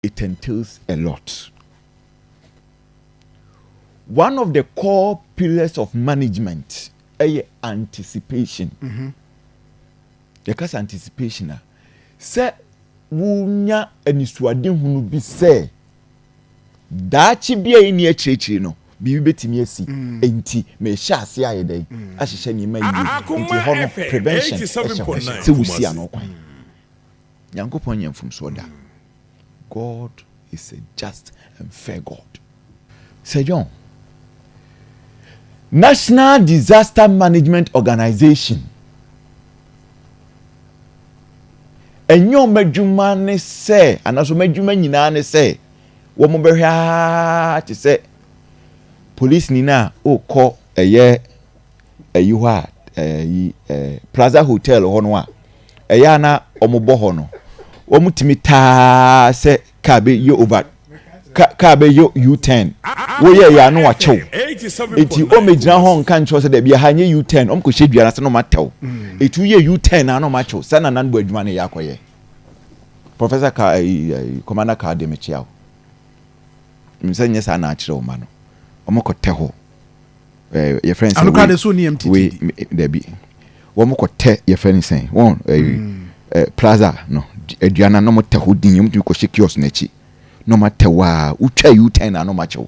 it entails a lot. One of the core pillars of management ɛyɛ anticipation. Mm -hmm. Yɛka sɛ anticipation a, sɛ wonya anisoadehunu bi sɛ daakye bi a ɛni akyirikyiri no, biribi bɛtumi asi mm. nti mehyɛ ase ayɛ dɛn mm. ahyehyɛ nneɛma yie nti hɔ no prevention ɛhyɛ hɔ sɛ wosi ano kwan Nyankopɔn nyɛ mfomsoɔ da. God is a just and fair God. Sir John, National Disaster Management Organization, ɛnyɛ wɔn adwuma ne sɛ, anaasɛ wɔn adwuma nyinaa ne sɛ, wɔbɛhwɛ aa te sɛ polisini no a ɔrekɔ ɛyɛ ɛyi hɔ a ɛyi ɛɛ plaza hotel hɔ no a ɛyɛ a na wɔn bɔ hɔ no wɔn tumi taa sɛ kaa bɛ yɛ over ka kaa bɛ yɛ u turn wɔyɛ yɛ ano wakyɛw eti wɔn bɛ gyina hɔ nka nkyɛw sɛ dɛbi aha nyɛ u turn wɔn kɔ hyɛ dua na sɛ na wɔn atɛw etu yɛ u turn na wɔn akyɛw sɛ na nan bɔ adwuma na yɛ akɔyɛ professor ka ɛyi eh, ɛyi eh, commander ka de mekyia o nsɛ nyɛ saa na akyerɛ wɔn ma no wɔn kɔ tɛ hɔ. eh, yɛfrɛ no sɛ wei so nneɛm titi wei dabi wɔn kɔ tɛ yɛfrɛ no sɛn wɔn ɛɛ eh, mm. eh, plaza no aduane na wɔn tɛ hɔ din wɔn tumi kɔ hyɛ kiosk n'akyi na wɔn atɛ hɔ a wotwa u ten na wɔn akyɛw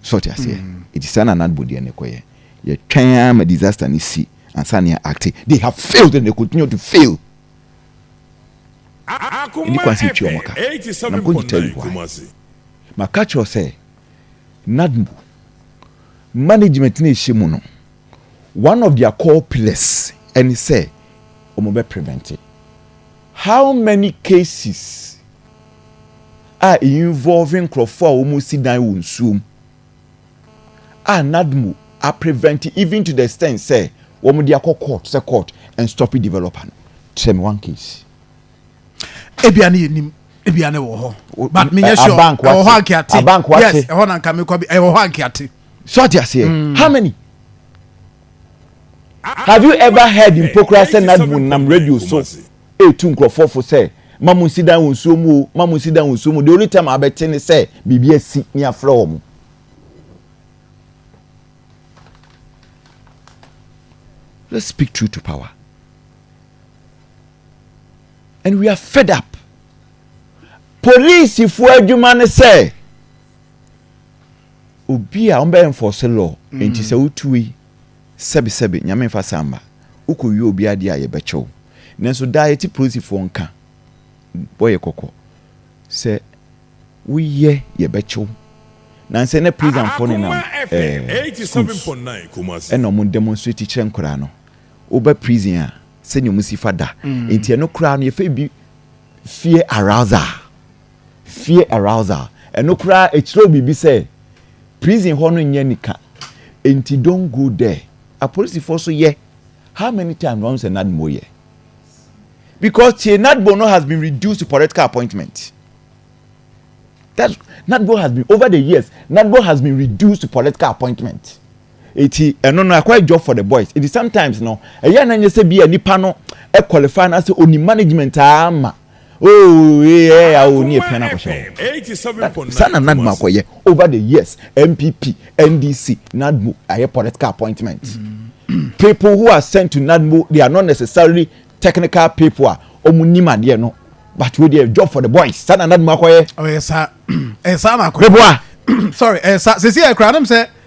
sɔɔte aseɛ mm. eti saa na anadbo deɛ ne kɔ yɛ yɛtwɛn ama disaster ne si ansa ne acte they have failed and they continue to fail ɛni kwan sɛ twi wɔn ka na nkɔ nyita yi hɔ a maka kyerɛ sɛ NADMBU management no a ɛhyɛ mu no, one of their core pillars ɛne sɛ wɔbɛ prevent how many cases a involve nkurɔfoɔ a wɔsi dan wɔ nsuom a NADMBU a prevent even to the extent sɛ wɔde akɔ court sɛ court and stop developer no kyerɛ me one case. ebia ne yɛnim ebia ne wɔ hɔ but menyɛ sure ɛwɔ hɔ ankeate yes ɛhɔ na nka mekɔ bi ɛwɔ hɔ ankeate so ate aseɛ mm. how many have you ever heard mpokura sɛ nadmo nam radio so ɛtu nkurɔfoɔ fo sɛ ma mo nsi dan wɔ nsuo mu o ma mo nsi dan wɔ nsuo mu the only time abɛte ne sɛ biribi asi ne afrɛ wɔ mo let's speak true to power and we are fed up polisifoɔ adwuma ne sɛ obi a wɔbɛ enforce law mm. nti sɛ wotu yi sɛbisɛbi nyame nfa samba wokɔ wie obi adeɛ a yɛbɛkyɛw nanso daa yɛte polisifoɔ nka wɔyɛ kɔkɔ sɛ woyɛ yɛbɛkyɛw nansɛ ne prisonfoɔ ne nam ɛɛ eh, schools ɛna wɔn demonstrate kyerɛ nkwadaa no wobɛ prison a sɛnea ɔmo si fa da mm. nti ɛno koraa no yɛfɛ bi fear arousal fear arousal ɛno koraa ɛkyerɛw biribi sɛ prison hɔ no nyɛ nika nti don go there apolisifoɔ so yɛ how many times wɔn sɛ nadmo yɛ because tie nadmo no has been reduced to political appointment that nadmo has been over the years nadmo has been reduced to political appointment. Eti ɛno no ɛkɔ yɛ job for the boys. Eti sometimes no ɛyɛ na nyɛ sɛ bi a nipa no ɛ qualify na sɛ onim management aa ma ooo eɛ ya oo ne apia na akɔhyɛ hɔ. Saa na NADMO akɔ yɛ over the years NPP, NDC, NADMO ayɛ political appointment. People who are sent to NADMO they are not necessarily technical people a ɔmo nim adeɛ no but wei deɛ job for the boys saa na NADMO akɔ yɛ. Ɔyɛ saa ɛyɛ saa na akɔ yɛ. Beboa. Sorry ɛyɛ saa sisi ɛkura anam sɛ.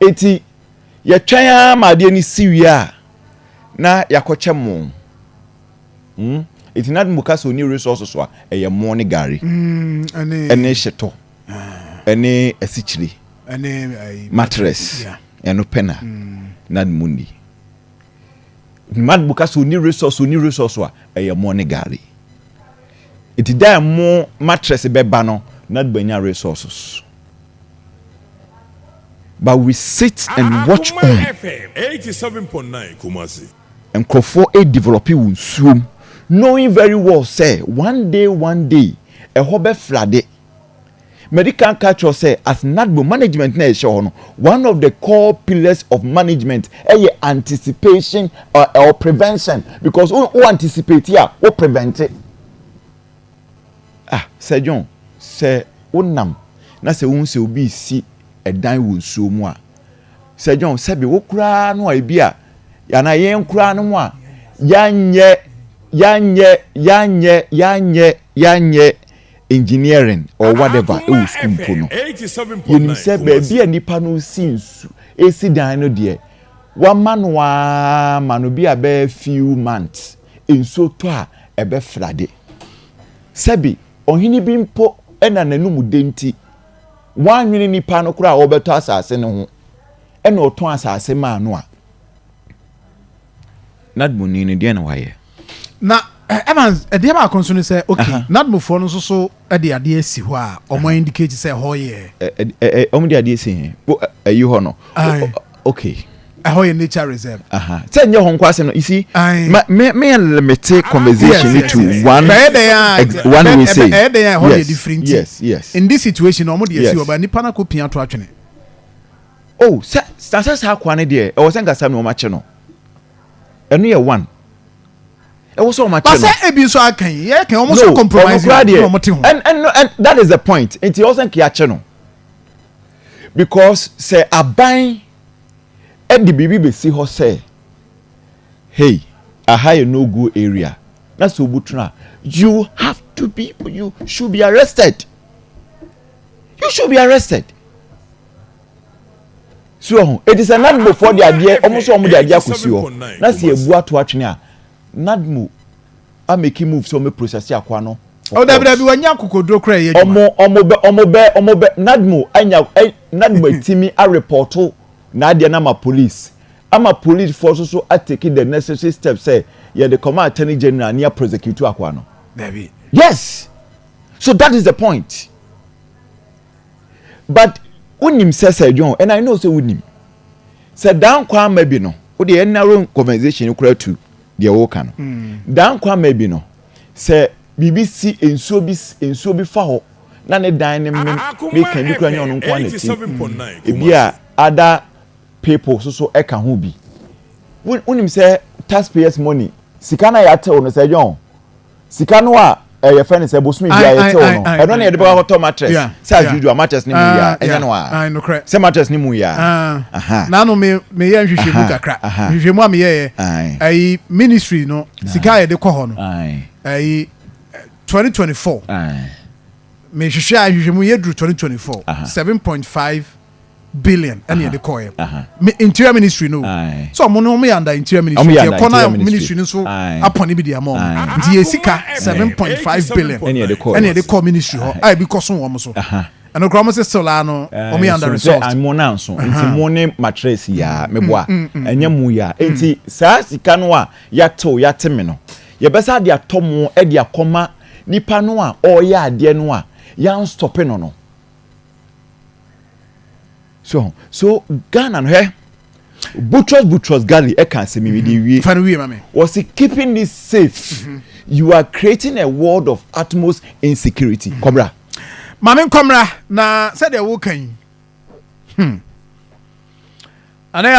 Enti yɛtwɛn ara ma adeɛ no si wie a, na yɛakɔkyɛ mo. Hmm? Enti na mo ka sɛ ɔni resources so a, ɛyɛ mo ne gari. Ɛne hyetɔ. Ɛne asikyire. Ɛne mattress. Ɛno pɛ na. Na mo ni. Mad mo ka sɛ ɔni resource, ɔni resource so a, ɛyɛ mo ne gari. Enti dɛ mo mattress bɛba no, na bɛnya resources. But we sit and watch on. Nkurɔfoɔ re develop wɔ nsuo mu knowing very well sɛ one day one day ɛhɔ bɛ flade. Madi kan aka akyerɛ wo sɛ as NADMO management na yɛhyɛ hɔ no one of the core pillars of management ɛyɛ anticipation or, or prevention because wo, wo anticipate a wo prevent it. Ah, Sir John, sɛ wonam na sɛ wohu sɛ obi resi dan wɔ nsuo mu a, Sir John, sɛbe wo koraa no a ebi a, anaa yɛn koraa no mu a, yɛanyɛ, yɛanyɛ, yɛanyɛ, yɛanyɛ, yɛanyɛ engineering or whatever wɔ sukuu mpo no, yɛnim sɛ baabi a nnipa no resi nsu, resi dan no deɛ, wɔama no ara ma no bi a bɛyɛ few months. nsuo tɔ a, ɛbɛfra de. Sɛbe ɔhene bi mpo na n'anom dɛ nti, wannwene nnipa no koraa a wɔbɛtɔ asase no ho, ɛna ɔtɔn asase maa no a, Nadmoni no, deɛn na wayɛ? Na Evans, ɛdeɛ baako nso ne sɛ, okay, Nadmofoɔ no nso so, Ɛde adeɛ asi hɔ a ɔmo indicate sɛ ɛhɔ yɛ. Ɔmo de adeɛ asi he? Ayi hɔ no. Aye. Okay. Ɛhɔ yɛ nature reserve. Aha. Sɛ nyɛ hɔ nko asɛm no, you see. Aye. Ma me me limite conversation yes, yes, to yes. one. Bɛyɛ dɛ ya. One way say. Ɛyɛ dɛ ya ɛhɔ yɛ different. Yes yes. In this situation ɔmo de asi hɔ ba nipa na ko pia to atwene. Oh sɛ sɛ sɛ saa akoa ne deɛ ɛwɔ sɛ nkasa mi wɔn akyɛ no. Ɛno yɛ one. ɛwɔ sɛ wɔn akyɛ no. basɛ ebi nso aka yi yɛ kan wɔn nso compromise na wɔn te ho. and and and that is the point nti ɛwɔ sɛ nkeya kyɛ no because sɛ aban ɛde biribi besi hɔ sɛ hey aha yɛ no go area na sɛ obu tena you have to be you should be arrested you should be arrested. Si wɔ ho. Enti sɛ Nadmofoɔ de adeɛ, wɔn nso wɔn de adeɛ akɔsi hɔ, na sɛ yɛbu ato atwene a, Nadmo a make move sɛ wɔn bɛ process akoa no for court. Oh, dabi dabi, wɔnyɛ akokoduro koraa ɛyɛ adwuma. Wɔn, wɔn bɛ, wɔn bɛ, wɔn bɛ, Nadmo anya, ɛ, Nadmo atimi arepɔto n'adeɛ no ama police, ama police foɔ nso so atake the necessary steps sɛ yɛde kɔma attorney general ne yɛ prosecute akoa no. Dabi. Yes, so that is the point. but wonim sɛ sɛ john and i know sɛ wonim sɛ dan kwan ma bi no wode yɛ narrow conversation kora tu deɛ woka no mm. dan kwan ma bi no sɛ biribi si nsuo bi nsuo bi fa hɔ na ne dan ne mmem ne kan bi kora nyɛ ɔno nko a na ti mm. ebi a ada people so so ɛka ho bi wonim sɛ taxpayers money sika na yɛatew no sɛ john Sika no a eh, yɛfrɛ no sɛ bosome biara yɛtew no ɛno na yɛde bɛkɔ akɔtɔ mattress sɛ as usual mattress no mu yɛ a ɛnyɛ no a sɛ mattress no mu yɛ a naano meyɛ nhwehwɛmu kakra nhwehwɛmu a meyɛɛ ayi ministry no sika a yɛde kɔ hɔ no ayi 2024 mehwehwɛ a nhwehwɛmu yɛduru 2024 7.5 billion ɛna yɛde kɔɛ me interior ministry no so ɔmo no ɔmo yɛ under interior ministry yɛ kɔ na ministry no so apɔne bi di ama ɔmo nti yɛ sika seven point five billion ɛna yɛde kɔ ministry hɔ a ebi kɔ so wɔn so ɛno koraa ɔmo sɛ still a no ɔmo yɛ under resort. ɛsɛ mo na nso nti mo ne matress yi a mebo a ɛnyɛ mo yi a nti saa sika no a yatew yate me no yɛbɛsa ade atɔ mo ɛde akɔma nipa no a ɔyɛ adeɛ no a yan stɔpe no no. so so ghana no hɛ butros butros gali ɛka asɛm yi de wie wɔsi keeping it safe mm-hmm. you are creating a world of utmost insecurity mm-hmm. kɔmra. maame nkɔmra na sɛdeɛ woka yi hmm. anayɛ